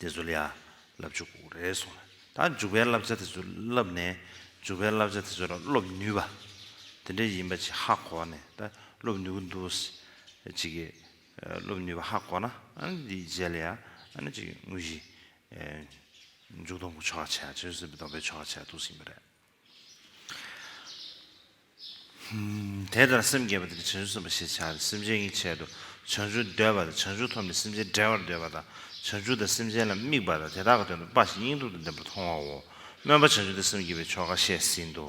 དེ་ཚོ་ལ་ཡང་བསླབ་ཆོག་གོ་རེ་སོང་ལ་ད་འཇུག་པའི་བསླབ་བྱ་དེ་ཚོ་བསླབ་ནས་འཇུག་པའི་བསླབ་བྱ་དེ་ཚོ་ལ་སློབ་ནུས་པ་དེ་འདྲ་ཡིན་པ་ཅིག་ཧ་གོ་ནས་ད་སློབ་ནུས་གི་འདུག་ཅིག་གི་སློབ་ནུས་པ་ཧ་གོ་ན་དེའི་རྗེས་ལ་ཡང་ཨ་ཅིག་དངོས་གཞི་མཇུག་སྡོམ་གི་ཆོ་ག་བྱས་ཡ་ཆོས་སྲིད་པའི་སྡོམ་པའི་ཆོ་ག་བྱས་ཡ་འདུག་ཟིན་པ་རེད། དེ་ལྟར་སེམས་བསྐྱེད་པ་དེ་ནི་བྱང་ཆུབ་སེམས་དཔའ་ཞེས་བྱ་སྟེ་སེམས་ཅན་གྱི་ཆེད་དུ་བྱང་ཆུབ་འདོད་པ་དང་བྱང་ཆུབ་ཐོབ་ནས་སེམས་ཅན་བསྒྲལ་བར་འདོད་པ་དང་བྱང་ཆུབ་དང་སེམས་ཅན་ལ་དམིགས་པ་དང་དེ་དག་གི་དོན་དུ་དཔའ་ཞིང་སྙིང་སྟོབས་དང་ལྡན་པར་མཐོང་བའོ། སྨོན་པ་བྱང་ཆུབ་ཏུ་སེམས་བསྐྱེད་པའི་ཆོ་ག་བཤད་ཟིན་ཏོ།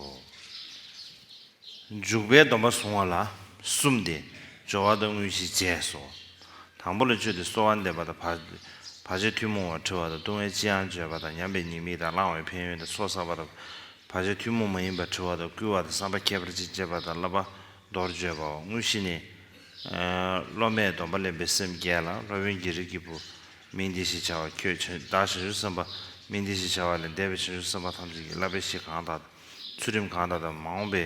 འཇུག་པའི་སྡོམ་པ་བཟུང་བ་ལ་གསུམ་སྟེ་སྦྱོར་བ་དང་དངོས་གཞིའི་རྗེས་སོ། དང་པོ་ལ་སྤྱོད་དེ་གསོལ་བ་འདེབས་པ་དང་བར་ཆད་ཐུན་མོང་བར་དྲི་བ་དང་ལྟུང་བའི་ལྕི་ཡང་བརྗོད་པ་དང་ཉམས་པའི་ཉེས་དམིགས་དང་བླང་བའི་ཕན་ཡོན་དང་སྲོག་བསགས་པ་དང་བར་ཆད་ཐུན་མོང་མ་ཡིན་པར་དྲི་བ་དང་བསྐུལ་བ་དང་བསམ་པ་ཁྱད་པར་ཅན་བསྐྱེད་པ་དང་བསླབ་པ་མདོར་བརྗོད་པའོ་དངོས་གཞི་ནི། སློབ་མས་སྡོམ་པ་ལེན་པའི་སེམས་བསྐྱེད་ལ་སློབ་དཔོན་གྱིས་རིགས་ཀྱི་བུ། མིང་འདི་ཞེས་བྱ་བ་ཁྱོད་བདག་བྱང་ཆུབ་སེམས་དཔའ་མིང་འདི་ཞེས་བྱ་བ་ལས་འདས་པའི་བྱང་ཆུབ་སེམས་དཔའ་ཐམས་ཅད་ཀྱིས་བསླབ་པའི་གཞི་གང་དག་དང་ཚུལ་ཁྲིམས་གང་དག་དང་མ་འོངས་པའི།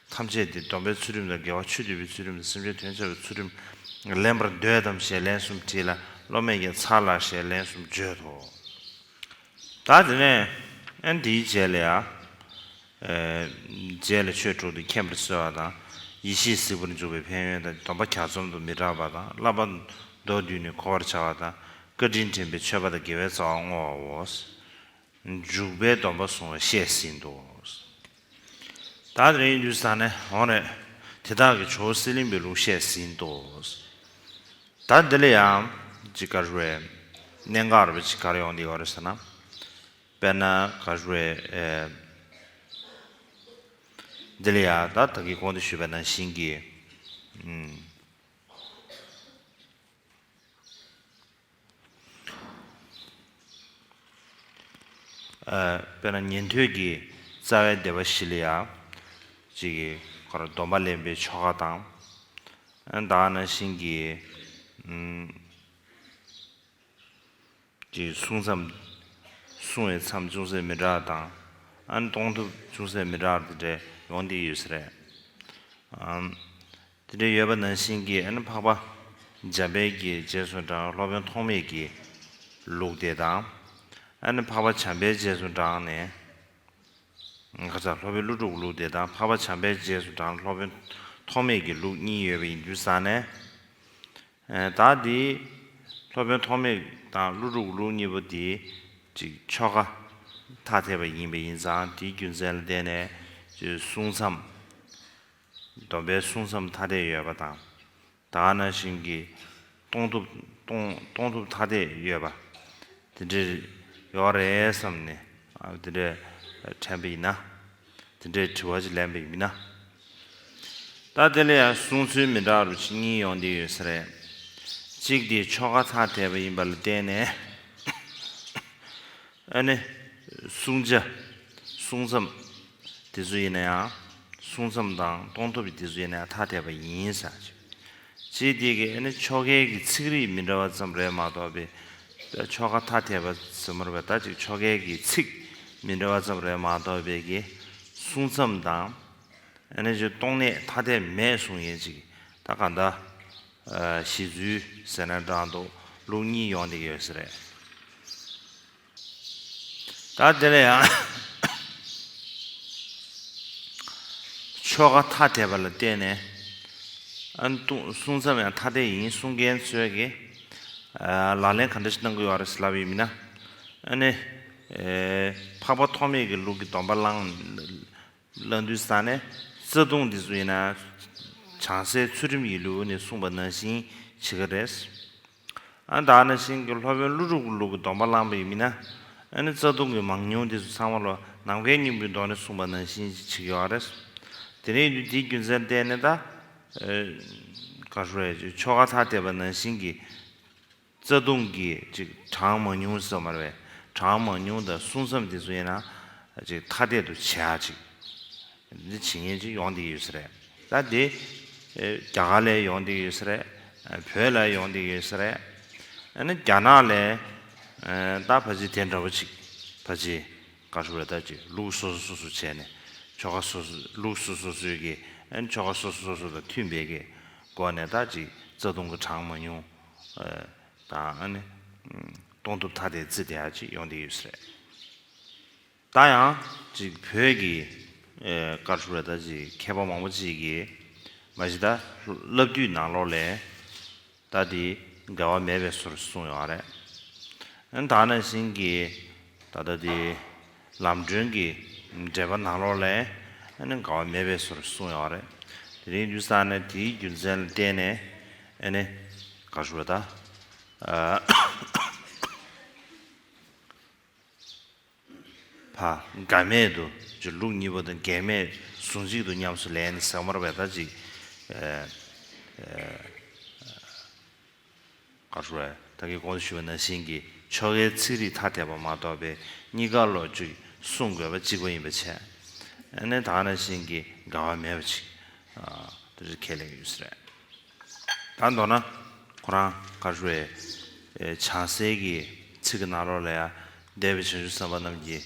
ཐམས་ཅད་དེ་སྡོམ་པའི་ཚུལ་ཁྲིམས་དང་འགལ་བ་ཆོས་འདུལ་བའི་ཚུལ་ཁྲིམས་དང་སེམས་ཅན་དོན་བྱ་བའི་ཚུལ་ཁྲིམས་ལེན་པར་འདོད་དམ་ཞེས་ལན་གསུམ་དྲིས་ལ་སློབ་མས་ཀྱང་ཚར་ལགས་ཞེས་ལན་གསུམ་བརྗོད་དོ། བདག་དེ་ནས་ཨན་འདིའི་རྗེས་ལ་ཡང། རྗེས་ལ་ཆོས་དྲུག་ཏུ་མཁྱེན་པར་གསོལ་བ་དང། ཡེ་ཤེས་གཟིགས་པར་འཇུག་པའི་ཕན་ཡོན་དང་སྡོམ་པ་གྱ་ཚོམ་དུ་མི་བསྒྲག་པ་དང་བསླབ་པ་མདོར་བསྡུས་ནས་གོ་བར་བྱ་བ་དང་བཀའ་དྲིན་དྲན་པའི་མཆོད་པ་དང་དགེ་བའི་རྩ་བ་བསྔོ་བའོ། འཇུག་པའི་སྡོམ་པ་བཟུང་བ་བཤད་ཟིན་ཏོ། ད་རེས་འཇུ་ས་ནས་འོང་རེད། དེ་དག་གི་ཇོ་བོ་གསེར་གླིང་པའི་ལུགས་བཤད་ཟིན་ཏོ། ད་འདི་ལ་ཡང་ཅི་ག་རེ་བའི་གནད་འགག་རེ་བ་ཅིག་གར་ཡོང་བསྡད་ཡོད་རེད་ཟེར་ན། དཔེར་ན་ག་རེ་བའི། འདི་ལ་ཡང་ད་ད་གི་དགོངས་འདུས་ཞུས་པ་ནང་བཞིན་གྱི། དཔེར་ན་ཉན་ཐོས་ཀྱི་རྩ་བའི་བདེ་བ་བཞི་ལ་ཡང། ཅིག་གོ། སྡོམ་པ་ལེན་པའི་ཆོ་ག་དང། བདག་རྣམས་བཞིན་གྱི། ཅིག་བསྲུང་མཚམས། བསྲུང་བའི་མཚམས་ཅུང་ཟད་མི་དྲག་དང། གཏོང་ཐུབ་ཅུང་ཟད་མི་དྲག་དེ་འདྲའི་ཡོང་དེ་ཡོད་ས་རེད། དེ་འདྲའི་ཡོད་པ་ནང་བཞིན་གྱི་ཨ་ནི་འཕགས་པ་འཇམ་དཔལ་གྱི་རྗེས་སུ་འབྲངས་སློབ་དཔོན་ཐོགས་མེད་ཀྱི་ལུགས་བདེ་དང། ཨ་ནི་འཕགས་པ་བྱམས་པའི་རྗེས་སུ་འབྲངས་ནས། ཁ་ཚ་ལྷོ་བོད་ཀླུ་དྲུག་ལུགས་བདེ་དང་འཕགས་པ་བྱམས་པའི་རྗེས་སུ་འབྲངས་སློབ་དཔོན་ཐོགས་མེད་ཀྱི་ལུགས་གཉིས་ཡོད་པ་ཡིན་རྒྱུ་བསམ་ནས། བདག་འདིས་སློབ་དཔོན་ཐོགས་མེད་དང་ཀླུ་དྲུག་ལུགས་གཉིས་པོ་དེ་གཅིག་ཆོ་ག་ཐ་དད་པ་ཡིན་པ་ཡིན་ཙང་དེའི་རྒྱུ་མཚན་ལ་བརྟེན་ནས་གསུང་མཚམས། སྡོམ་པའི་བསྲུང་མཚམས་ཐ་དད་ཡོད་པ་དང། དག་སྣང་བཞིན་གྱི་གཏོང་ཐུབ། གཏོང་ཐུབ་ཐ་དད་ཡོད་པ། དེ་འདྲའི་ཡོད་རེད་བསམ་ནས་དེ་འདྲའི་དྲན་པ་ཡིན་ན། དེ་འདྲའི་དྲི་བ་ཅིག་ལེན་པ་ཡིན་ན། ད་དེ་ལ་ཡང་བསྲུང་ཚུལ་མི་འདྲ་རུ་ཕྱི་གཉིས་ཡོང་དེ་ཡོད་ས་རེད། གཅིག་དེ་ཆོ་ག་ཐ་དད་པ་ཡིན་པ་ལ་བརྟེན་ནས། ཨ་ནི། བསྲུང་བྱ། བསྲུང་མཚམས། དེ་སུ་ཡིན་ན་ཡང། བསྲུང་མཚམས་དང་གཏོང་ཐབས་ཀྱི་དེ་སུ་ཡིན་ན་ཡང་ཐ་དད་པ་ཡིན། སྤྱིར་དེ་གའི་ཨ་ནི་ཆོ་གའི་གི་ཚིག་རིས་མི་འདྲ་བ་ཙམ་རེད་མ་གཏོགས་པའི། ཆོ་ག་ཐ་དད་པ་ཟེར་མ་རུང་བས་ད་ཅིག་ཆོ་གའི་གི་ཚིག་མི་འདྲ་བ་ཙམ་རེད་མ་གཏོགས་པའི་གི། བསྲུང་མཚམས་དང། ཨ་ནི་གཏོང་གནས་ཐ་དད་མེད་གསུངས་ཡིན་ཅིག་ད་ག་འདྲ། ཞེས་བཟོས་ཟེར་ན་བགྲང་འདུག་ལུགས་གཉིས་ཡོང་དེ་ཡོད་ས་རེད། ད་དེ་ལ་ཡང་ཆོ་ག་ཐ་དད་པ་ལ་བརྟེན་ནས་གསུང་མཚམས་ཡང་ཐ་དད་ཡིན་གསུང་མཁན་ཚོས་ཀྱིས་ལག་ལེན་གང་འདྲ་ཞིག་གནང་གི་ཡོད་རེད་ཟེར་ལབ་ཡོད་མིན་ན། ཨ་ནི། འཕགས་པ་ཐོགས་མེད་ཀྱི་ལུགས་ཀྱི་སྡོམ་པ་བླངས། བླ་འདུལ་ས་ནས་རྩ་ལྟུང་འདི་ཚོ་ཡིན་ན་བྱང་སའི་ཚུལ་ཁྲིམས་ཡིན་ལུགས་ནས་གསུངས་པ་ནང་བཞིན་བྱེད་ཀ་རེད། ཨ་ད་ནང་བཞིན་གྱི་ལྷོ་བོན་ཀླུ་སྒྲུབ་ཀྱི་ལུགས་ཀྱི་སྡོམ་པ་བླངས་པ་ཡིན་མིན་ན་ཨ་ནི་རྩ་ལྟུང་གི་མང་ཉུང་འདི་ཚོ་ཚང་མ་ལོ་ནམ་མཁའི་སྙིང་པོའི་མདོ་ནས་གསུངས་པ་ནང་བཞིན་བྱེད་ཀྱི་ཡོད་རེད། དེ་རིང་དུས་དེའི་རྒྱུ་མཚན་བལྟས་ནས་ད། ཆོ་ག་ཐ་དད་པ་ནང་བཞིན་གྱི། རྩ་ལྟུང་གིས་ཅིག་གྲངས་མང་ཉུང་སོགས་མ་རེད་པས་གྲངས་མང་ཉུང་དང་བསྲུང་མཚམས་འདི་ཚོ་ཡིན་ན་ཅིག་ཐ་དད་དུ་བྱས་ཨ་ཅིག་འདི་བྱེད་ཉེན་ཅིག་ཡོང་སྡིག་ཡོད་ས་རེད་ད་དེ་རྒྱ་གར་ལས་ཡོང་སྡིག་ཡོད་ས་རེད་བོད་ལ་ཡོང་སྡིག་ཡོད་ས་རེད་ཨ་ནི་རྒྱ་ནག་ལས་ད་བ་ཅིག་དེ་འདྲ་བ་ཅིག་བ་ཅིག་ག་ཧྲུ་རེད་ད་ཅིག་ལུགས་སོ་སོ་སོ་སོ་བྱས་ནས་ཆོ་ག་སོ་སོ་ལུགས་སོ་སོ་སོའི་གིས་ཨ་ནི་ཆོ་ག་སོ་སོ་སོ་སོ་དང་མཐུན་པའི་གི་སྒོ་ནས་ད་ཅིག་རྩ་ལྟུང་གི་གྲངས་མང་ཉུང་དང། གཏོང་ཐུབ་ཐ་དད་རྩིས་དེ་ཧ་ཅིག་ཡོང་དེ་ཡོད་སྲིད། ད་ཡང་ཅིག་བོད་ཀྱི་དཀར་ཕྱུག་ར་ད་ཅིག་མཁས་པ་མང་པོ་ཅིག་གིས་མ་གཞི་ད་བསླབ་བཏུས་ནང་ལོགས་ལས་ད་དེ་འགལ་བ་མེད་པའི་ཟུར་གསུངས་ཡོང་བ་རེད། ད་ནང་བཞིན་གྱི་ད་ད་དེ། ལམ་སྒྲོན་གྱི་འགྲེལ་པ་ནང་ལོགས་ལས་འགལ་བ་མེད་པའི་སོར་གསུངས་ཡོད་རེད། དེ་རིང་འདུས་ས་ནས་དེའི་རྒྱུ་མཚན་ལ་བརྟེན་ནས་དགག་ཞུ་བ་དང། འགལ་མེད་དུ་ཅི་ལུགས་གཉིས་པོ་དང་འགལ་མེད་ཟུང་གཅིག་ཏུ་ཉམས་སུ་ལེན་ཟེར་བར་བས་ད་ཅིག། ཀ་ཧྲུའེ། བདག་གིས་གོང་དུ་ཞུས་པ་ནང་བཞིན་གྱི་ཆོ་གའི་ཚིག་རིས་ཐ་དད་པ་མ་གཏོགས་པའི་གཉིས་ཀ་ལོགས་ཀྱིས་གསུངས་དགོས་པ་གཅིག་པ་ཡིན་པ་ཆད་ནས་དག་ནང་བཞིན་གྱི་འགལ་བ་མེད་པ་ཅིག་དེ་འདྲ་ཁས་ལེན་གྱི་ཡོད་ས་རེད། ད་མདོར་ན་ཁོ་རང་ཀ་ཧྲུའེ། བྱང་གསེར་གྱི་ཚིག་གི་ནང་ལོགས་ལ་ཡང་འདས་པའི་བྱང་ཆུབ་སེམས་དཔའ་རྣམས་ཀྱིས།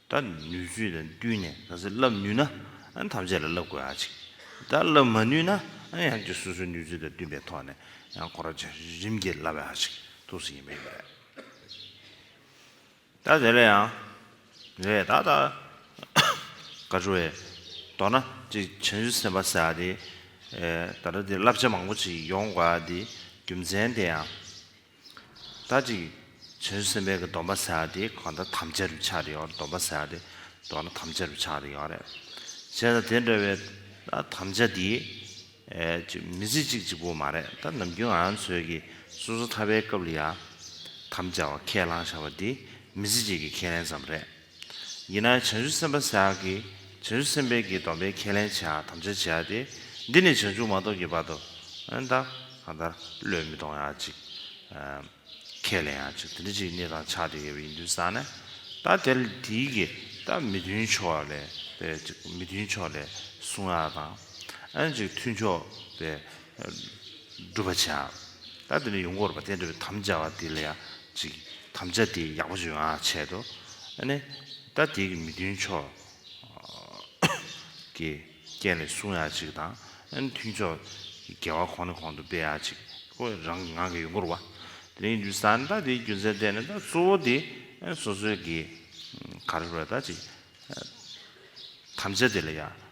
ད་ནུས་ཚོད་དང་བསྟུན་ནས་ག་ཚོད་བསླབ་ནུས་ན་ཐམས་ཅད་ལ་བསླབ་དགོས་ཨ་ཅིག་ད་བསླབ་མ་ནུས་ན་ཡང་ཀྱི་སོ་སོའི་ནུས་ཚོད་དང་བསྟུན་པའི་ཐོག་ནས་ཡང་ཁོ་ར་ཆ་རིམ་གྱིས་བསླབ་ཨ་ཅིག་ཐུགས་སུ་ཡིན་པ་ཡིན་པ་རེད། ད་དེ་ལ་ཡང་རེད་ད་ད་ག་ཆུ་བས་མདོར་ན་ཅིག་བྱང་ཆུབ་སེམས་དཔའ་ཟེར་བ་དེ་ད་ལྟ་དེ་བསླབ་བྱ་མང་པོ་ཅིག་ཡོང་དགོས་ཨ་དེ་རྒྱུ་མཚན་དེ་ཡང། ད་ཅིག། བྱང་ཆུབ་སེམས་དཔའི་གདོན་པ་བསལ་བ་དེ་གང་དག་ཐམས་ཅད་རུ་ཆགས་རེག་ཡོད་གདོན་པ་བསལ་བ་དེ་གདོན་ན་ཐམས་ཅད་རུ་ཆགས་རེག་ཡོད་རེག་བྱེད་ན་དེ་འདྲ་བའི་དམ་བཅའ་འདི། མི་ཚེ་གཅིག་གཅིག་པོ་མ་རེག་ད་ནམ་རྒྱུན་ང་ཚོས་ཀྱི་སོ་སོ་ཐར་པའི་སྐབས་ལ་ཡང། དམ་བཅའ་བ་ཁས་བླངས་བཞག་པ་འདི་མི་ཚེ་གཅིག་གི་ཁས་ལེན་ཙམ་རེད། ཡིན་ན་བྱང་ཆུབ་སེམས་དཔའ་སེམས་དཔའ་གིས་བྱང་ཆུབ་སེམས་དཔའ་གྱི་སྡོམ་པའི་ཁས་ལེན་བྱ་དམ་བཅའ་བྱ་སྟེ། འདི་ནི་བྱང་ཆུབ་མ་གཏོགས་ཀྱི་བར་དུ། ཨན་ཏ། གང་ལྟར་བློས་མི་གཏོང་ཡང་ཅིག། ཁས་ལེན་ཡང་ཅིག་དེ་འདྲ་ཅིག་གནས་དང་ཆགས་བྲལ་ཡོད་པ་ཡིན་དུས་བསམས་ན། ད་དེར་དེའི་གི་ད་མི་མཐུན་ཕྱོགས་ལས་པས་ཅིག་མི་མཐུན་ཕྱོགས་ལས་གསུང་ཡང་དང། ཨན་ཅིག་མཐུན་ཕྱོགས་པས་བསྒྲུབ་པར་བྱ། ད་དེ་ནས་ཡུམ་བསྐོར་བ་སྟན་བསྒྲོད་པའི་དམ་བཅའ་བ་དེ་ལ་ཡང་ཅིག་དམ་བཅའ་དེ་ཡག་པོ་བརྗོད་ཨ་འཆད་དོ། ནི། ད་དེ་གི་མི་མཐུན་ཕྱོགས་ཀྱི་རྐྱེན་ལས་གསུངས་ཡང་ཅིག་དང། ནི་མཐུན་ཕྱོགས་ཀྱི་འགལ་བ་གོང་ནས་གོང་དུ་སྤེལ་ཡང་ཅིག་ཁོ་རང་གི་ངང་གིས་ཡུམ་བསྐོར་བ། དེ་ནས་ཡུམ་གྱི་ས་ནི་ད་དེའི་རྒྱུ་མཚན་སྤྲད་ནས་ད་གཙོ་བོ་དེ་སོ་སོའི་གི་གར་བསྒྲུབ་པ་ད་ཅིག་དམ་བཅའ་དེ་ལ་ཡང།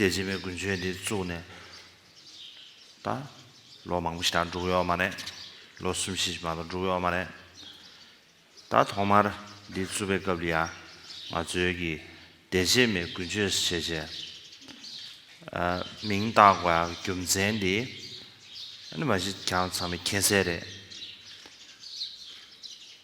སྡེ་ཆེན་པོའི་དགུན་ཆོས་འདི་བཙུགས་ནས་ད་ལོ་མང་པོ་ཞིག་ད་འགྲུག་ཡོད་མ་རེད། ལོ་གསུམ་བཞི་ཞིག་མ་གཏོགས་འགྲུག་ཡོད་མ་རེད། ད་ཐོག་མར་འདི་བཙུགས་པའི་སྐབས་འདི་ཡང་ང་ཚོའི་གི་སྡེ་ཆེན་མའི་དགུན་ཆོས་ཞེས་བྱས་མིང་བཏགས་པའི་རྒྱུ་མཚན་འདི་ནི་མ་གཞི་གྱང་ཚང་མའི་ཁྱད་གསད་རེད།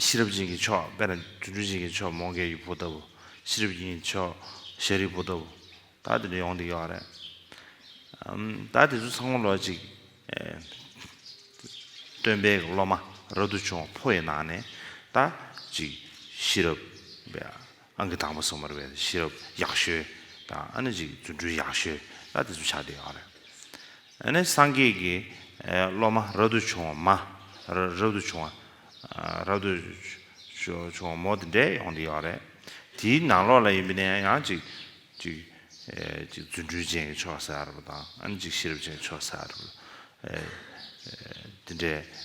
ཤེས་རབ་ཅན་གྱི་མཆོག་དཔལ་རང་བྱུང་སྤྲུལ་ཅན་གྱི་མཆོག་མོའུ་འགལ་གྱི་བུ་ལྟ་བུ། ཤེས་རབ་ཅན་གྱི་མཆོག་ཤཱ་རིའི་བུ་ལྟ་བུ། ད་དེ་འདྲ་ཡོང་སྡིག་ཡོད་རེད། ད་དེ་ཚོ་ཚང་མ་ལོ་གཅིག། སྟོན་པའི་སློབ་མ་རབ་ཏུ་བྱུང་བ་ཕོ་ཡི་ནང་ནས་ད་ཅིག་ཤེས་རབ། ཨང་ཀི་དང་པོ་སོ་མར་བའི་ཤེས་རབ་ཡག་ཤོས་དང་ཨ་ནེ་གཅིག་རྫུ་འཕྲུལ་ཡག་ཤོས་ལ་དེ་ཚོ་ཆགས་བསྡད་ཡོང་རེད། ཨ་ནེ་སངས་རྒྱས་ཀྱི་སློབ་མ་རབ་ཏུ་བྱུང་བ་མ། རབ་ཏུ་བྱུང་བ། རབ་ཏུ་བྱུང་བ་མོ་དེ་འདྲས་ཡོང་བསྡད་ཡོང་རེད། དེའི་ནང་ལོགས་ལ་ཡིན་པ་ནས་ཡང་གཅིག་གཅིག་གཅིག་རྫུ་འཕྲུལ་ཅན་གྱི་ཆོས་ཟེར་བ་དང་ཨ་ནེ་གཅིག་ཤེས་རབ་ཅན་གྱི་ཆོས་ཟེར་བ། དེ་འདྲས།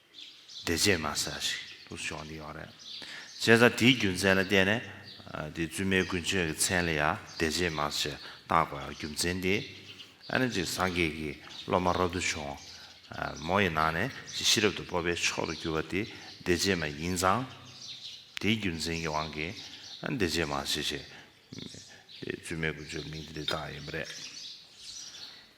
འདྲེ་བྱེད་མ་ས་ཞིག་ཏུ་ཤོང་གི་ཡོད་རེད། བྱས་ཙང་དེའི་རྒྱུ་མཚན་ལ་བལྟས་ནས་དེ་བཙུན་མའི་དགུན་ཆོས་ཀྱི་མཚན་ལ་ཡང་འདྲེ་བྱེད་མ་ཞེས་བཏགས་པའི་རྒྱུ་མཚན་དེས་ཨ་ནེ་གཅིག་སངས་རྒྱས་ཀྱི་སློབ་མ་རབ་ཏུ་བྱུང། མོ་ཡི་ནང་ནས་ཅིག་ཤི་རབ་ཏུ་སྤོབས་པའི་མཆོག་ཏུ་གྱུར་པ་དེ་འདྲེ་བྱེད་མ་ཡིན་ཙང། དེའི་རྒྱུ་མཚན་གྱི་དབང་གིས་འདྲེ་བྱེད་མ་ཞེས་བྱས། བཙུན་མའི་དགུན་ཆོས་ཀྱི་མིང་དེ་འདི་བཏགས་ཡིན་པ་རེད།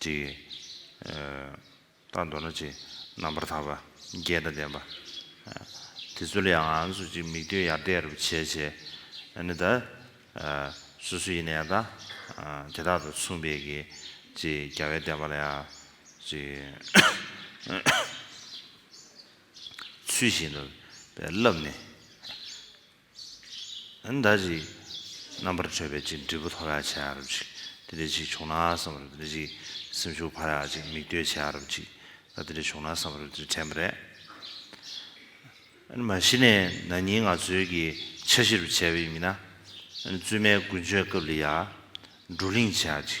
བྲི། རྟགས་མདོར་ན་ཅི། རྣམ་པར་དག་པ། རྒྱས་དང་ལྡན་པ། དེ་ཚོ་ལ་ཡང་ང་ཚོ་ཅིག་མིག་ལྟོས་ཡར་བལྟས་རབ་བྱས་བྱས། ནི་ད། སོ་སོ་ཡིན་ན་ཡང་དང། དེ་དག་དང་མཚུངས་པའི་གི། ཅི་རྒྱ་བས་བསྟན་པ་ལ་ཡང། ཅི། ཚུལ་བཞིན་དུ། བསླབ་ནས། ཨ་མདའ་ཅིག། རྣམ་པར་གྲོལ་བའི་ཅིག་འབྲས་བུ་ཐོབ་ཡག་བྱས་ཨ་རབ་ཅིག། དེ་འདྲའི་ཅིག་བྱུང་ན་བསམ་པར་དེ་འདྲའི་ཅིག། སེམས་ཤུགས་འཕར་ཡག་ཅིག་མིག་ལྟོས་བྱས་ཨ་རབ་ཅིག། ད་དེ་འདྲའི་བྱུང་ན་བསམ་པར་དེ་འདྲའི་དྲན་པ་རེད། ཨ་ནི་མ་གཞི་ནས་ན་ནིང་ང་ཚོའི་གི་འཆར་གཞི་རུ་བྱས་པ་ཡིན་མིན་ན། ཨ་ནི་བཙུན་མའི་དགུན་ཆོས་སྐབས་ལི་ཡ། འབྲུག་གླིང་བྱས་ཨ་ཅིག།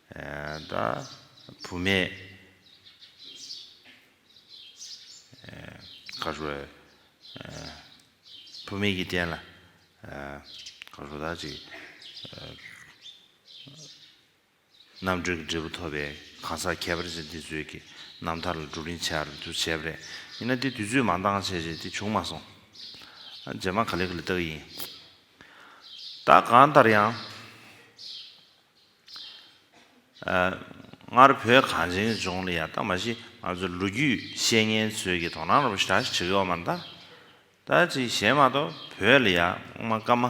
བདག་བུ་མེད། བུ་མེད་ཀྱི་རྟེན་ལ། བདག་ཅིག། རྣམ་གྲོལ་གྱི་འབྲས་བུ་ཐོབ་པའི་གང་ཟག་ཁྱད་པར་ཅན་དེ་ཚོའི་གི་རྣམ་ཐར་ལ་བགྲོ་གླིང་བྱས་ར་འདུ་བྱས་པ་རེད། ཡིན་ན་དེ་དུས་ཚོད་མང་འདང་བྱས་བྱས་དེ་བྱུང་མ་སོང། རྗེས་མ་ག་ལེ་ག་ལེ་བལྟ་གི་ཡིན། བདག་གང་ལྟར་ཡང། སྔར་བོད་གངས་ཅན་ལྗོངས་ལ་ཡང་ད་མ་གཞི་ང་ཚོའི་ལོ་རྒྱུས་ཤེས་མཁན་ཚོས་ཀྱིས་དོ་སྣང་རོགས་ཞེས་གྲགས་ཤིག་བྱེད་ཀྱི་ཡོད་མ་རེད་ད། ད་ཅིག་གཞན་མ་གཏོགས་བོད་ལ་ཡང་སྔོན་མ་སྐར་མ།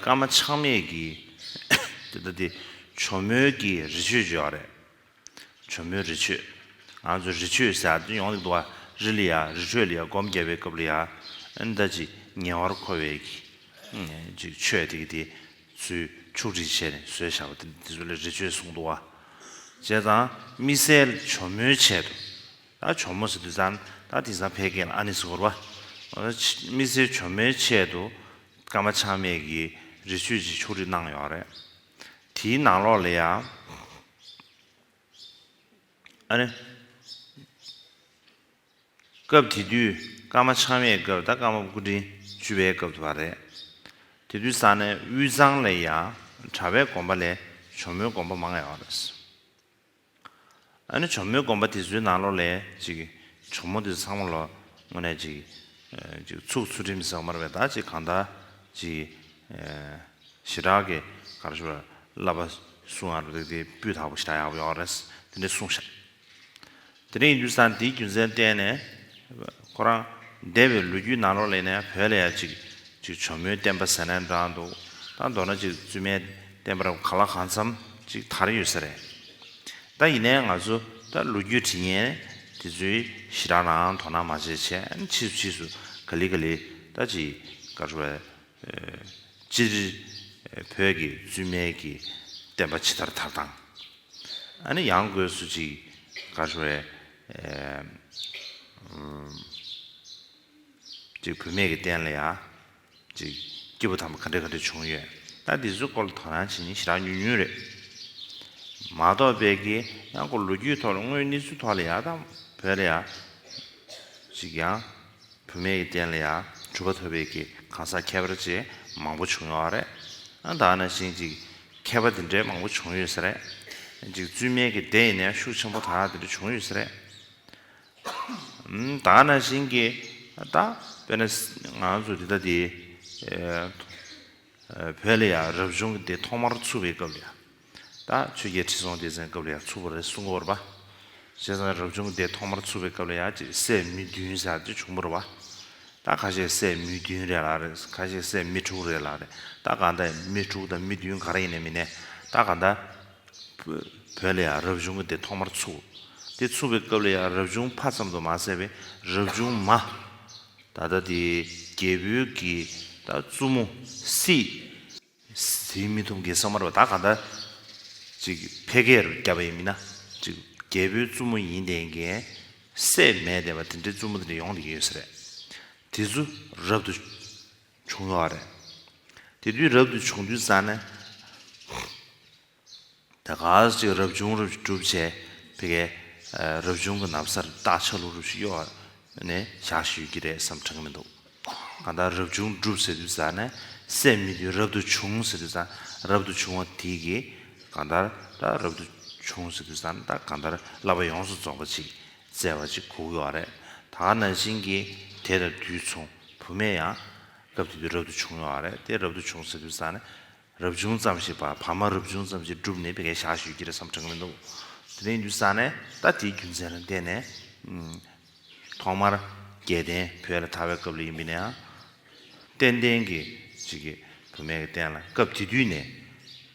སྐར་མ་ཆགས་མེད་ཀྱིས་དེ་ལྟ་སྟེ། ཇོ་མོའི་ཀྱི་རི་ཆོས་བརྗོད་པ་རེད། བྱུང་མོད་རི་ཆོས། ང་ཚོ་རི་ཆོས་ཟེར་དོན་ཡོང་ལེགས་འདུག་ཨ་རི་ལ་ཡ་རི་ཁྲོད་ལ་ཡ་སྒོམ་རྒྱབ་པའི་སྐབས་ལ་ཡ་ཨེ་ད་ཅི་ཉེ་བར་མཁོ་བའི་གི་ཅིག་ཆོས་དེ་གི་དེ་ཚུལ་ཕྱུག་བསྒྲིགས་བྱས་ནས་བཟོས་བཞག་པ་དེ་འདི་ཚོ་ལ་རི་ཆོས་གསུངས་འདུག་ཨ། བྱས་ཙང་དམིགས་བསལ་བྱོ་མོའི་ཆེད་དུ་ཨ་བྱོ་མོ་ཟེར་དུས་ཙང་ད་དེང་སང་ཕལ་སྐད་ལ་ཨ་ནི་ཟེར་བ། དམིགས་བསལ་བྱོ་མོའི་ཆེད་དུ་ཀརྨ་ཆགས་མེད་ཀྱིས་རི་ཆོས་ཅིག་ཕྱུག་བསྒྲིགས་གནང་ཡོད་རེད། དེའི་ནང་ལོགས་ལ་ཡང། ཨ་རེ། སྐབས་དེ་དུས་སྐར་མ་འཆང་བའི་སྐབས་ད་སྐར་མ་སྐུ་དྲིན་བཅུ་བའི་སྐབས་དུ་བ་རེད། དེ་དུས་ས་གནས་དབུས་གཙང་ལ་ཡང་གྲྭ་བའི་དགོན་པ་ལས་ཇོ་མོའི་དགོན་པ་མང་ཡོད་རེད། ཨ་ནི་གྱོ་མོའི་སྒོམ་པ་དེ་ཚོའི་ནང་ལོགས་ལས་ཅིག་གྱོ་མོ་དེ་ཚོ་ཚང་མ་ལོགས་དངོས་གནས་ཅིག་ཚུགས་ཚུལ་ཁྲིམས་ཟེགས་མར་བས་ད་ཅིག་གང་ལྟར་ཅིག་ཞི་དྲག་གི་ག་རེ་ཞུ་བ་བསླབ་པ་སུ་ང་རུ་འདུག་དེ་སྤུས་དག་པོ་ཞི་དྲག་ཡག་པོ་ཡོད་རེད་དེ་འདྲས་གསུངས་ཤག་དེ་རིང་ཡུལ་ས་འདིའི་རྒྱུ་མཚན་སྤྲད་ནས་ཁོ་རང་འདས་པའི་ལོ་རྒྱུས་ནང་ལོགས་ལས་ནས་བོད་ལ་ཡ་ཅིག་གྱོ་མོའི་བསྟན་པ་ཟེར་ན་འདྲ་འདུག་ད་མདོར་ན་ཅིག་བཙུན་མའི་བསྟན་པར་ག་ལ་གང་འཚམ་ཅིག་དར་ཡོད་ས་རེད་ད་ཡིན་ནའི་ང་ཚོ་ད་ལོ་རྒྱུས་དྲི་ངན་དེ་ཚོའི་ཞི་དྲག་ནའང་དོ་སྣང་མ་བྱེད་ཆེན་ཕྱིས་སུ་ཕྱིས་སུ་ག་ལི་ག་ལི་ད་ཅི་དགའ་རོ་བས་སྤྱིར་བོད་ཀྱི་བཙུན་མའི་ཀྱི་བསྟན་པ་ཇི་ལྟར་དར་དང་ཨ་ནི་ཡང་དགོས་སུ་ཅིག་དགའ་རོ་བས་ཅིག་བུད་མེད་ཀྱི་བསྟན་ལ་ཡ། ཅིག། སྐྱེས་བུ་དམ་པ་ག་འདྲས་ག་འདྲས་བྱུང་ཡོད། ད་འདི་ཚོའི་སྐོར་ལ་དོ་སྣང་བྱེད་ཉིན་ཞེ་དྲག་ཉུང་ཉུང་རེད། མ་གཏོགས་དཔལ་ཁའི་གཡང་སྐོར་ལོ་རྒྱུས་ཐོག་ལ་དངོས་གནས་ཚུལ་ཐོག་ལ་ཡག་དང་བོད་ལ་ཡག། ཅིག། ཡང་བུད་མེད་ཀྱི་རྟེན་ལ་ཡག་གྲུབ་པ་ཐོབ་པའི་གི་གང་ཟག་ཁྱད་པར་བཅས་མང་པོ་བྱུང་ཡོད་རེད། ཨང་དག་ན་བཞིན་ཅིག། མཁས་པ་འདི་འདྲས་མང་པོ་བྱུང་ཡོད་ས་རེད། ཅིག་བཙུན་མའི་གི་སྡེ་ཡིན་ན་ཤུགས་ཆེན་པོ་དག་འདི་འདྲས་བྱུང་ཡོད་ས་རེད། ད་ན་བཞིན་གྱི་ད་དཔེར་ན་ང་ཚོ་འདི་ལྟ་དེ། བོད་ལ་ཡང་རབ་བྱུང་གི་དེ་ཐོག་མར་ཚུགས་པའི་སྐབས་ལ་ཡང། ད་ཆོས་རྒྱལ་ཁྲི་སྲོང་ལྡེ་བཙན་སྐབས་ལ་ཡང་ཚུགས་པ་རེད་གསུང་གི་བར་པ། བྱས་ཙང་རབ་བྱུང་གི་དེ་ཐོག་མར་ཚུགས་པའི་སྐབས་ལ་ཡང་ཅིག་སད་མི་བདུན་ཟེར་ཅིག་བྱུང་བར་པ། ད་ཁ་ཤས་སད་མི་བདུན་རེད་ལགས་རེད་ཁ་ཤས་སད་མི་དྲུག་རེད་ལགས་རེད་ད་གང་ལྟ་ཡིན་མི་དྲུག་དང་མི་བདུན་ག་རེ་ཡིན་ནས་མིན་ནས་ད་གང་ལྟ། བོད་ལ་ཡང་རབ་བྱུང་གི་དེ་ཐོག་མར་ཚུགས། དེ་ཚུགས་པའི་སྐབས་ལ་ཡང་རབ་བྱུང་ཕ་ཙམ་དུ་མ་ཟད་པའི་རབ་བྱུང་མ། ད་ལྟ་དེ་རྒྱལ་པོའི་དགེ། ད་བཙུན་མོ། སྲིད། དེའི་མི་ཐུབ་དགེ་ས་མར་བ་ད་ག་འདྲ། ཅིག་ཕལ་སྐད་རུ་བརྒྱབ་པ་ཡིན་མིན་ན། ཅིག་རྒྱལ་པོའི་བཙུན་མོ་ཡིན་དེ་འགན། སྲས་མེད་དེ་བ་དེ་འདྲའི་བཙུན་མོ་དེ་འདྲ་ཡོང་དེ་ཡོད་ས་རེད། དེ་ཚུ་རབ་ཏུ། བྱུང་ཡོད་རེད། དེ་དུས་རབ་ཏུ་བྱུང་དུས་ས་ནས། ད་ག་ཟེ་ཅིག་རབ་བྱུང་རབ་གྲུབ་བྱས་དེ་གའི་རབ་བྱུང་གི་ནམ་སར་སྟག་ཆ་ལུག་རུ་ཞིག་གཡོ་བ་ནས་བཞག་བཞིན་ཡོད་ཀྱི་རེད་བསམ་གྲངས་མི་འདུག་གང་ལྟར་རབ་བྱུང་གྲུབ་ཟེར་དུས་ས་ནས་སད་མི་དུས་རབ་ཏུ་བྱུང་ཟེར་དུས་ས་རབ་ཏུ་བྱུང་བ་དེ་གའི་གང་ལྟར་ད་རབ་ཏུ་བྱུང་ཟེར་དུས་ས་ནས་ད་གང་ལྟར་བསླབ་པ་ཡོངས་སུ་རྫོགས་པ་ཅིག་བཙལ་བ་ཅིག་གོ་གི་བ་རེད། ད་ག་ནང་བཞིན་གྱི་དེ་ལ་འདུས་མཚུངས་བུ་མེད་ཡང། སྐབས་དེ་དུས་རབ་ཏུ་བྱུང་ཡོང་བ་རེད་དེ་རབ་ཏུ་བྱུང་ཟེར་དུས་བཟང་ནི། རབ་བྱུང་ཙམ་ཞིག་བ་བ་མ་རབ་བྱུང་ཙམ་ཞིག་བསྒྲུབས་ནས་བི་གའི་ཞག་ཞུས་ཀྱི་རེད་བསམ་གྲངས་མི་འདུག་དེ་རིང་དུས་བཟང་ནས་ད་དེའི་རྒྱུ་མཚན་ལ་བལྟས་ནས། ཐོག་མར་རྒྱལ་བསྟན་བོད་ལ་དར་བའི་སྐབས་ལ་ཡིན་པས་ན་ཡང། བསྟན་བསྟན་གྱི་ཅིག་གི་བུ་མེད་ཀྱི་བསྟན་ལ་སྐབས་དེ་དུས་ནས།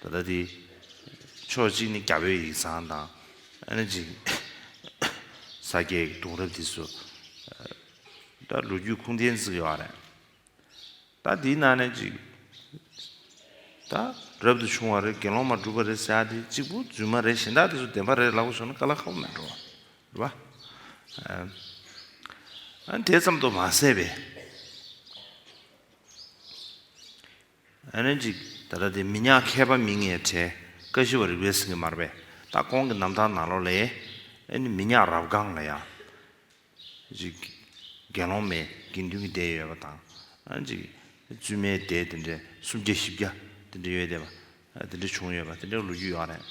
ད་ལྟ་དེ་ཕྱོགས་གཅིག་ནི་རྒྱ་བོད་ཡིག་ཚང་དང། ཨ་ནེ་ཅིག་ས་སྐྱའི་གདུང་རབས་དེ་ཚོ། ད་ལོ་རྒྱུས་ཁུངས་ལྡན་བརྩི་ཡོད་རེད། ད་དེའི་ནང་ནས་ཅིག། ད་རབ་ཏུ་བྱུང་བ་རེད་དགེ་སློང་མ་བསྒྲུབས་པ་རེད་ཟེར་དེ་གཅིག་པུ་རྫུན་མ་རེད་གཞན་དག་དེ་ཚོ་བདེན་པ་རེད་ལབ་པ་སོང་ན་ཀ་ལ་ཁ་བོ་མི་འགྲོ། རེད་པ། ཨ་ནི་དེ་ཙམ་དུ་མ་ཟད་པའི། ད་ལྟ་དེ་མི་ཉག་མཁས་པ་མི་ངས་བྲལ་བཀའ་བཞི་བ་རིག་པའི་སེང་གེ་མར་པས་ད་ཁོང་གི་རྣམ་ཐར་ནང་ལོ་ལས་ཨེ་ནི་མི་ཉག་རབ་སྒང་ལ་ཡང་དགེ་སློང་མའི་དགེ་འདུན་གྱི་སྡེ་ཡོད་པ་དང་བཙུན་མའི་སྡེ་དེ་འདྲའི་སུམ་བརྒྱ་བཞི་བརྒྱ་དེ་འདྲ་ཡོད་བསྡད་པ་དེ་འདྲ་བྱུང་ཡོད་པ་དེ་འདྲའི་ལོ་རྒྱུས་ཡོད་རེད།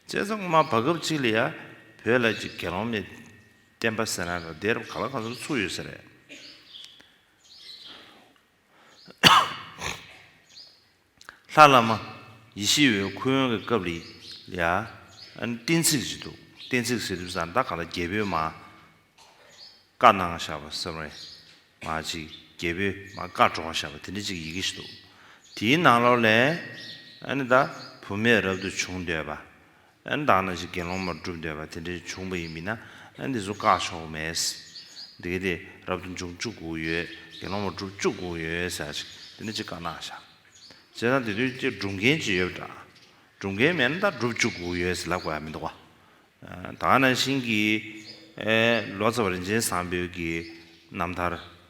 བཙལ་བཟང་ངོ་མ་བར་སྐབས་གཅིག་ལ་ཡང་བོད་ལ་དགེ་སློང་མའི་བསྟན་པ་ཟེར་ན་ལ་སྡེ་རབ་ག་ལ་ག་ཚོར་ཚུགས་ཡོད་ས་རེད། ལྷ་བླ་མ་ཡེ་ཤེས་འོད་ཁུ་ཡོན་གྱི་སྐབས་རེད་ཡ། གཏན་ཚིགས་ཅིག་འདུག་གཏན་ཚིགས་ཟེར་དུས་ཟངས་མདའ་ག་ལ་རྒྱལ་པོའི་མ། བཀའ་གནང་བཞག་པ་ཟེར་བའི་མ་གཅིག་རྒྱལ་པོའི་མ་བཀའ་བགྲོ་བཞག་པ་དེ་འདྲ་ཅིག་ཡི་གེ་ཞིག་འདུག་དེའི་ནང་ལོགས་ལས། ཨ་ནི་ད་བུ་མེད་རབ་ཏུ་བྱུང་འདོད་པ། བདག་ན་ཅིག་དགེ་སློང་མར་བསྒྲུབ་འདོད་པ་དེ་འདྲའི་བྱུང་བ་ཡིན་མིན་ན་འདི་ཚོ་བཀག་ཆོག་མེད། དེ་གལ་ཏེ་རབ་ཏུ་འབྱུང་བཅུག་གོ་ཡོད་དགེ་སློང་མར་བསྒྲུབ་བཅུག་གོ་ཡོད་ཟེར་ཅིག་དེ་ནི་ཅིག་བཀག་ནག་བྱ། བྱས་ཙང་དེ་དུས་ཀྱི་སྒྲུབ་མཁན་ཅིག་ཡོད་འདྲ། སྒྲུབ་མཁན་མེད་ན་ད་བསྒྲུབ་བཅུག་གོ་ཡོད་ཟེར་ལབ་དགོས་ཡ་མི་འདུག་བ། དག་ན་ཤིང་གིས། ལོ་ཙཱ་བ་རིན་ཆེན་བཟང་པོའི་གིས་རྣམ་ཐར།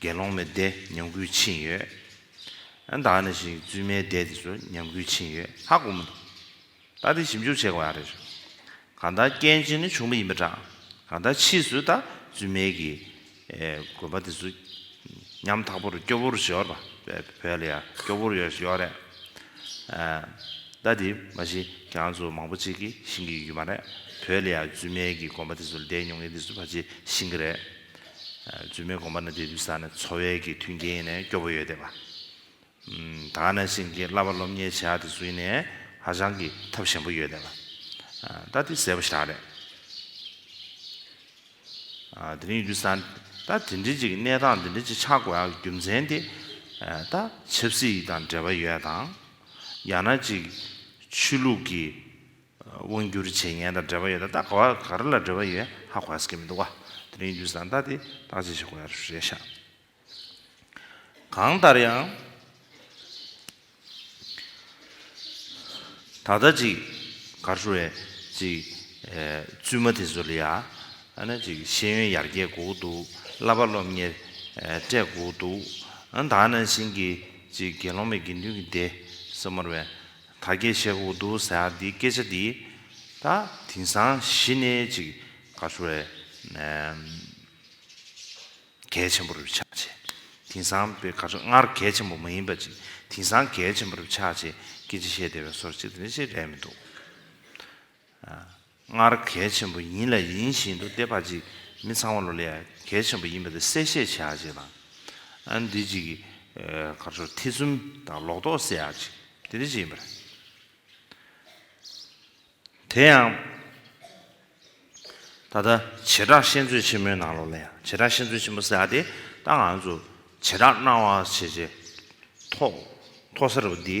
དགེ་སློང་མའི་སྡེ་ཉམས་རྒུད་ཕྱིན་ཡོད། ད་ནི་ཞིག་བཙུན་མའི་སྡེ་དེ་ཚོ་ཉམས་རྒུད་ཕྱིན་ཡོད་ཧ་གོ་མི་འདུག་ད་དེ་ཞིབ་འཇུག་བྱེད་དགོས་ཨ་རེད། གང་ལྟར་སྐྱེ་འཆི་ནི་བྱུང་བ་ཡིན་པ་འདྲ། གང་ལྟར་ཕྱིས་སུ་ད་བཙུན་མའི་གི་དགོན་པ་དེ་ཚོ་ཉམས་ཐག་པོར་སྐྱོ་བོར་བཞི་ཡོད་པ་བོད་ལ་ཡང་སྐྱོ་བོར་ཡོད་ཡོད་རེད། ད་དེ་མ་གཞི་གྱ་ང་ཚོ་མང་པོ་ཅིག་གིས་ཤིང་གི་ཡུལ་མ་རེད་བོད་ལ་ཡང་བཙུན་མའི་གི་དགོན་པ་དེ་ཚོ་ལ་བསྡད་མྱོང་ངེས་དེ་ཚོ་ཕ་ཆེ་ཤིང་གི་རེད། རྫུན་མའི་དགོངས་པ་ནི་དེ་དུས་ས་ནི་འཚོ་བའི་གི་མཐུན་རྐྱེན་ནས་སྐྱོ་པོ་ཡོད་བསྡད་པ། དག་ནས་བཞིན་གྱི་བསླབ་པ་སློབ་གཉེར་བྱས་ཨ་དེ་ཟུན་ནས་ཧ་ཅང་གི་ཐབས་ཞན་པོ་ཡོད་བསྡད་པ། ད་དེ་ཟེར་བ་ཞག་རེད། དེ་རིང་ཡོད་དུས་ས་ནི་ད་དེ་འདྲི་ཅིག་གནས་སྟངས་དེ་འདྲི་ཅིག་ཆགས་དགོས་ཨ་གི་རྒྱུ་མཚན་དེ་ད་ཆབ་སྲིད་ཡིག་དང་འབྲེལ་བ་ཡོད་དང། ཡང་ན་ཅིག་ཆུ་ལུགས་གི། དབང་སྒྱུར་བྱེད་མཁན་དང་འབྲེལ་བ་ཡོད་ན་ད་ག་བ་ག་རེ་ལ་འབྲེལ་བ་ཡོད་ཧ་གོ་ཧ་ཟེར་གྱི་མི་འདུག་ག་དེ་རིང་དུས་སང་ད་དེ་བརྟག་དཔྱད་བྱེད་དགོས་ཡ་རེད་ཤག་གང་ལྟར་ཡང། ད་ལྟ་ཅིག་གར་བཞུ་བའི་ཅིག་བཙུན་མ་དེ་ཚོ་ལ་ཡ་ཨ་ན་ཅིག་ཤེས་ཡོན་ཡར་རྒྱས་དགོས་ཀྱི་འདུག་བསླབ་པ་སློབ་གཉེར་སྤྲད་དགོས་ཀྱི་འདུག་ཨ་ན་ད་ནང་བཞིན་གྱི་ཅིག་དགེ་སློང་མའི་དགེ་འདུན་གྱི་སྡེ་ས་མོར་བའི། ད་སྐད་བཤད་ཁུག་འདུག་ཟེར་ཨ་འདི་སྐད་ཆ་འདི་ད་དེང་སང་གཞི་ནས་ཅིག་ག་ཚོད་རེད་གལ་ཆེན་པོ་རུ་ཆགས་ཆེ་དེང་སང་པོད་ག་ཚོད་སྔར་གལ་ཆེན་པོ་མ་ཡིན་པ་ཅིག་དེང་སང་གལ་ཆེན་པོ་རུ་ཆགས་ཆེ་སྐད་ཆ་བཤད་བདེ་བའི་སོར་ཅིག་དེ་འདྲ་ཞིག་རེད་མི་འདུག། སྔར་གལ་ཆེན་པོ་ཡིན་ལ་ཡིན་བཞིན་དུ་དེ་ཕར་ཅིག་མི་ཚང་བ་ལོ་ལེགས་ཡ་གལ་ཆེན་པོ་ཡིན་པ་དེ་གསལ་བཤད་བྱེད་ཡག་ཅིག་དང། འདི་ཅིག་གར་ཆོར་ཐེ་ཚུམ་དང་ལོག་རྟོག་སེལ་ཡག་ཅིག་དེ་འདི་ཅིག་ཡིན་པ་རེད། དེ་ཡང། ད་ལྟ་བྱེ་བྲག་བཤད་མཛོད་ཆེན་མོའི་ནང་ལོ་ལེགས་ཡ་བྱེ་བྲག་བཤད་མཛོད་ཆེན་མོ་ཟེར་ཡག་དེ་ད་ང་ཚོ་བྱེ་བྲག་སྣང་བ་བྱེད་བྱེད། མཐོ་ས་རུ་འདི།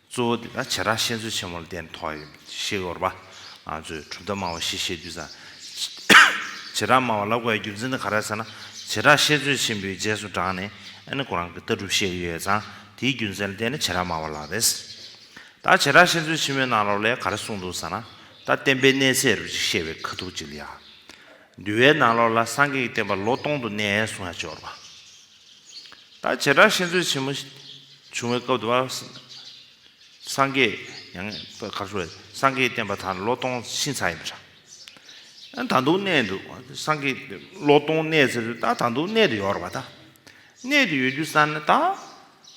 གཙོ་བོ་དེ་དག་བྱེ་བྲག་བཤད་མཛོད་ཆེན་མོ་ལ་བརྟེན་ནས་ཐོགས་ཡོད། ཤེལ་ཡོར་བ། ང་ཚོས་གྲུབ་མཐའ་སྨྲ་བ་ཞེས་བཤད་དུས་སམ། བྱེ་བྲག་སྨྲ་བ་ལ་གོ་བའི་རྒྱུ་མཚན་དེ་ག་རེ་ཟེར་ན། བྱེ་བྲག་བཤད་མཛོད་ཆེན་པོའི་རྗེས་སུ་འབྲངས་ནས་ཨ་ནི་ཁོ་རང་གི་ལྟ་གྲུབ་བཤད་ཀྱི་ཡོད་ཙང་དེའི་རྒྱུ་མཚན་ལ་བརྟེན་ནས་བྱེ་བྲག་སྨྲ་བ་ལབ་པས། ད་བྱེ་བྲག་བཤད་མཛོད་ཆེན་མོའི་ནང་ལོགས་ལས་ག་རེ་གསུངས་འདུག་ཟེར་ན། ད་བསྟན་པའི་གནས་ཚད་རུ་ཅིག་བཤད་པའི་ཁ་ཐུག་ཅིག་ལ་ཡང། འདུལ་བའི་ནང་ལོགས་ལ་སངས་རྒྱས་ཀྱི་བསྟན་པ་ལོ་སྟོང་དུ་གནས་གསུང་ཡང་བཅོས་ཡོར་བ། ད་བྱེ་བྲག་ཤེས་འཚོལ་ཆེན་མོ་བྱུང་བའི་སྐབས་དུ་བ། སངས་རྒྱས་ཡང་བསྐལ་པ་བྱུང་བས་སངས་རྒྱས་བསྟན་པ་དང་ལོ་སྟོང་ཕྱིན་ཚར་ཡིན་པ་འདྲ། ད་དུང་གནས་འདུག་སངས་རྒྱས་ལོ་སྟོང་གནས་ཚེ་རུ་ད་ད་དུང་གནས་དུ་ཡོད་རོགས་པ་ད། གནས་དུ་ཡོད་རྒྱུ་བསམ་ན་ད།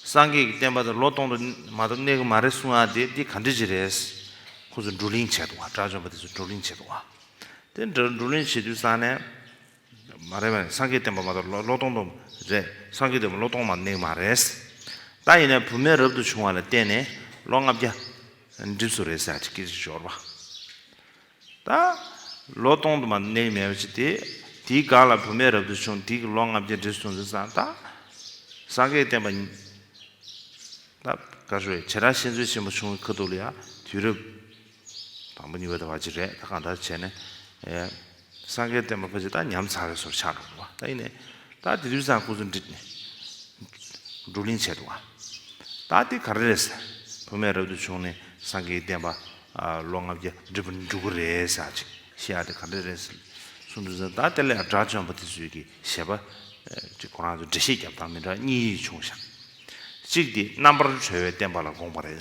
སངས་རྒྱས་ཀྱི་བསྟན་པ་དང་ལོ་སྟོང་དུ་མ་གཏོགས་གནས་གི་མ་རེད་གསུང་ཡ་དེ་འདི་ག་འདྲི་ཅི་རེད། ཁོ་ཚོ་བགྲོ་གླེང་བྱས་འདུག་བ་དགྲ་བཅོམ་པ་དེ་ཚོ་བགྲོ་གླེང་བྱས་འདུག་བ། དེ་འདྲ་བགྲོ་གླེང་བྱེད་དུས་བསམ་ནས། མ་རེད་མ་རེད་སངས་རྒྱས་བསྟན་པ་མ་གཏོགས་ལོ་སྟོང་སྟོང་རེད་སངས་རྒྱས་བསྟན་པ་ལོ་སྟོང་མ་ནིང་མ་རེད། ད་ཡིན་ན་བུ་མེད་རབ་ཏུ་བྱུང་བ་ལ་བརྟེན་ནས་ལོ་ལྔ་བརྒྱ་འགྲིབས་སུ་རེད་ཟེར་གྱི་ཞོར་བ། ད་ལོ་སྟོང་དུ་མ་ནིང་མེད་པ་ཅིག་དེ་དེའི་སྒང་ལ་བུ་མེད་རབ་ཏུ་བྱུང་དེ་གི་ལོ་ལྔ་བརྒྱ་འགྲིབས་སོང་ཟེར་ས་ད་སངས་རྒྱས་བསྟན་པ་ཉིད་ད་ག་ཞོ་བྱེད་རང་བཤད་མཛོད་ཆེན་པོ་བྱུང་བའི་ཁ་ཐུག་ལ་ཡང་དུས་རབས། དང་པོ་གཉིས་པ་དང་བ་ཅི་རེད་ད་གང་ལྟར་བྱས་ནས་སངས་རྒྱས་བསྟན་པ་ཕ་ཅི་ད་ཉམས་ཚར་བས་སོར་ཆགས་འགྲོ་གི་བ་ད་ཡིན་ནས་ད་དེ་དུས་ཚང་སྐུ་གཟུགས་འདྲི་ནས་བགྲོ་གླིང་བྱས་འདུག་བ་ད་དེ་ག་རེ་རེད་ཟེར་བུ་མེད་རབ་ཏུ་བྱུང་ནས་སངས་རྒྱས་བསྟན་པ་ལོ་ལྔ་བརྒྱ་འདྲི་བར་འགྲོ་གི་རེད་ཟེར་ཨ་ཅེ་ཤི་ཡ་དེ་ག་རེ་རེད་ཟེར་གསུང་དུས་ཟེར་ད་དེ་ལས་དགྲ་བཅོམ་པ་དེ་ཚོས་ཀྱི་བཞེད་པ་ཅིག་ཁོ་རང་ཚོས་འགྲེལ་བཤད་བརྒྱབ་སྟངས་མི་འདྲ་གཉིས་བྱུང་ཞག་གཅིག་དེ་རྣམ་པར་གྲོལ་བའི་བསྟན་པ་ལ་དགོངས་པ་རེད།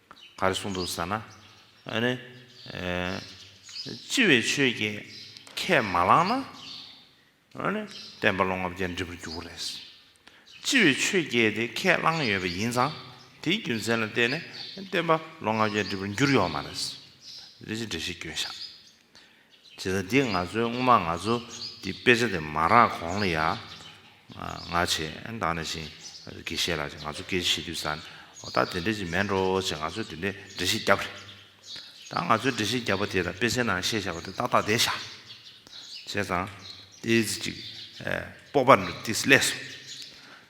ག་རེ་གསུངས་འདུག་ཟེར་ན། ཨ་ནི། ལྕི་བའི་ཆོས་ཀྱིས་ཁས་མ་བླངས་ན། ཨ་ནི། བསྟན་པ་ལོ་ལྔ་བརྒྱ་འགྲིབ་པར་འགྱུར་བ་རེད། ལྕི་བའི་ཆོས་ཀྱིས་དེ་ཁས་བླངས་ཡོད་པ་ཡིན་ཙང་དེའི་རྒྱུ་མཚན་ལ་བརྟེན་ནས་བསྟན་པ་ལོ་ལྔ་བརྒྱ་འགྲིབ་པར་འགྱུར་ཡོང་བ་མ་རེད། རེད་ཅེས་འགྲེལ་བཤད་སྐྱོན་བཞག། བྱས། ད་འདི་ང་ཚོའི་སྔོན་མ་ང་ཚོ་འདི་དཔེ་ཆ་དེ་མ་རག་གོང་ལ་ཡང་ང་བྱས་འདང་ནས་ཤིང་གི་བཤས་ལ་བྱས་ང་ཚོ་སྐད་ཆ་བཤད་དུས་ས་ནས་འོ་ད་དེ་འདྲས་ཅིག་མེད་འགྲོ་བྱས་ང་ཚོས་དེ་འདྲས་འགྲེལ་བཤད་བརྒྱབ། ད་ང་ཚོས་འགྲེལ་བཤད་བརྒྱབ་པ་དེ་དང་དཔེ་ཆའི་ནང་བཤད་བཞག་པ་དེ་ཏག་ཏག་བསྡད་བཞག་བྱས་ཙང། ཏིས་ཅིག་སྤོབས་པ་ནུབ་ཏིས་སླེས་སོང།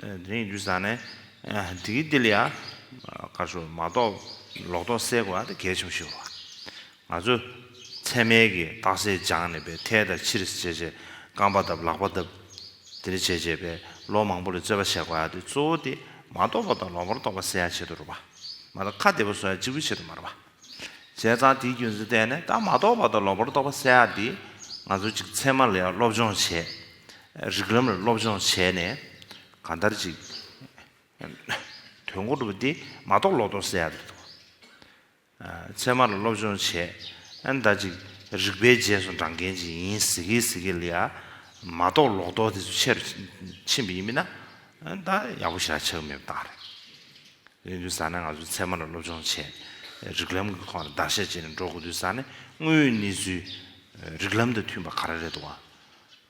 དེ་རིང་རྒྱུ་ཟག་ནས་འདི་གི་འདི་ལ་ཡ། དཀར་ཕྱོགས་མ་གཏོགས་ལོག་རྟོག་སེལ་དགོས་ཨ་ཏི་གལ་ཆེན་པོ་ཞིག་རེད། ང་ཚོ་ཚད་མལ་གྱི་རྟགས་གསལ་སྦྱངས་ནས་པའི་ཐལ་དང་ཕྱིར་བྱས་བྱས་རྐང་པ་བརྡབ་ལག་པ་བརྡབ། དེ་རིང་བྱས་བྱས་པའི་ལོ་མང་པོ་ལས་རྩོད་པ་བྱས་དགོས་ཨ་ཏི་གཙོ་བོ་དེ་མ་རྟོགས་པ་དང་ལོག་པར་རྟོགས་པ་སེལ་ཡ་བྱེད་དུ་རུང་བ། མ་ད་ཁ་བདེ་པོ་བཟོ་ཡ་གཅིག་པུ་བྱེད་དུ་མ་རུང་བ། བྱས་ཙང་དེའི་རྒྱུ་མཚན་བལྟས་ནས་ད་མ་རྟོགས་པ་དང་ལོག་པར་རྟོགས་པ་བསལ་ཡག་འདི། ང་ཚོ་གཅིག་ཚད་མ་ལ་ཡང་སློབ་སྦྱོང་བྱས། རིགས་ལམ་ལ་སློབ་སྦྱོང་བྱས་ནས། ག་འདར་ཅིག། དོན་གོ་སྒྲུབ་འདི་མ་རྟོགས་ལོག་རྟོགས་བསལ་ཡག་རེད་དོ། ཚད་མ་ལ་སློབ་སྦྱོང་བྱས། ཨ་འདར་ཅིག། རིག་པའི་རྗེས་སུ་འབྲང་མཁན་ཅིག་ཡིན་ཟེར་གི་ཟེར་གི་ལ་ཡ། མ་རྟོགས་ལོག་རྟོགས་དེ་ཚོ་ཆེ་རུ་ཕྱིན་པ་ཡིན་མིན་ན། ད་ཡག་པོ་ཞིག་ལ་ཆགས་མེད་པ་བཏང་རེད། ཡིན་དུས་ས་ནས་ང་ཚོས་ཚད་མ་ལ་སློབ་སྦྱོང་བྱས། རིགས་ལམ་གྱི་ཐོག་ནས་བརྡར་ཤ་བཅད་ནས་འགྲོ་དགོས་དུས་ས་ནས་དངོས་ཡོད་གནས་ཚུལ། རིགས་ལམ་དང་མཐུན་པ་ག་རེ་རེད་འདུག་བ།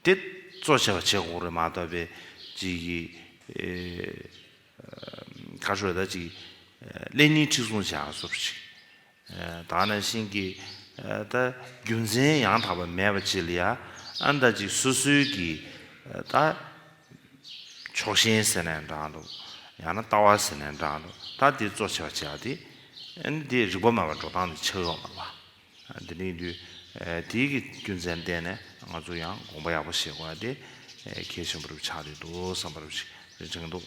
དེ་གཙོ་ཆེ་བ་བྱེད་དགོས་རེད་མ་གཏོགས་པའི། གཅིག་གིས། ཁ་ཤོ་ལ་ཅིག། ཀླད་རྙིང་འཁྲིག་སོང་བྱས་ཡག་སོ་ཞིག། ད་ནི་བྱིན་གྱིས་བརླབས། རྒྱུ་མཚན་ཡང་དག་པ་མེད་པ་ཅི་ལ་ཡ། ཨ་མདའ་ཅིག་སུ་སུའི་གི། ད། ཕྱོགས་ཞེན་ཟེར་ནས་འབྲངས་འདུག། ཡང་ན་ལྟ་བ་ཟེར་ནས་འབྲངས་འདུག་ད་དེ་གཙོ་ཆེ་བ་བྱས་པ་དེ། ནི་དེ་རིག་པ་མེད་པར་འགྲོ་སྟངས་དེ་ཆགས་ཡོང་བ་ལ། དེ་རིང་དུས། དེའི་གི་རྒྱུ་མཚན་བསྟན་ནས་ང་ཚོ་ཡང་དགོངས་པ་ཡག་པོ་བཞེས་དགོས་པ་དེ། གལ་ཆེན་པོ་རུ་ཆགས་བསྡད་འདུག་བསམ་པ་རུ་ཞིག་རེ་དྲན་འདུག།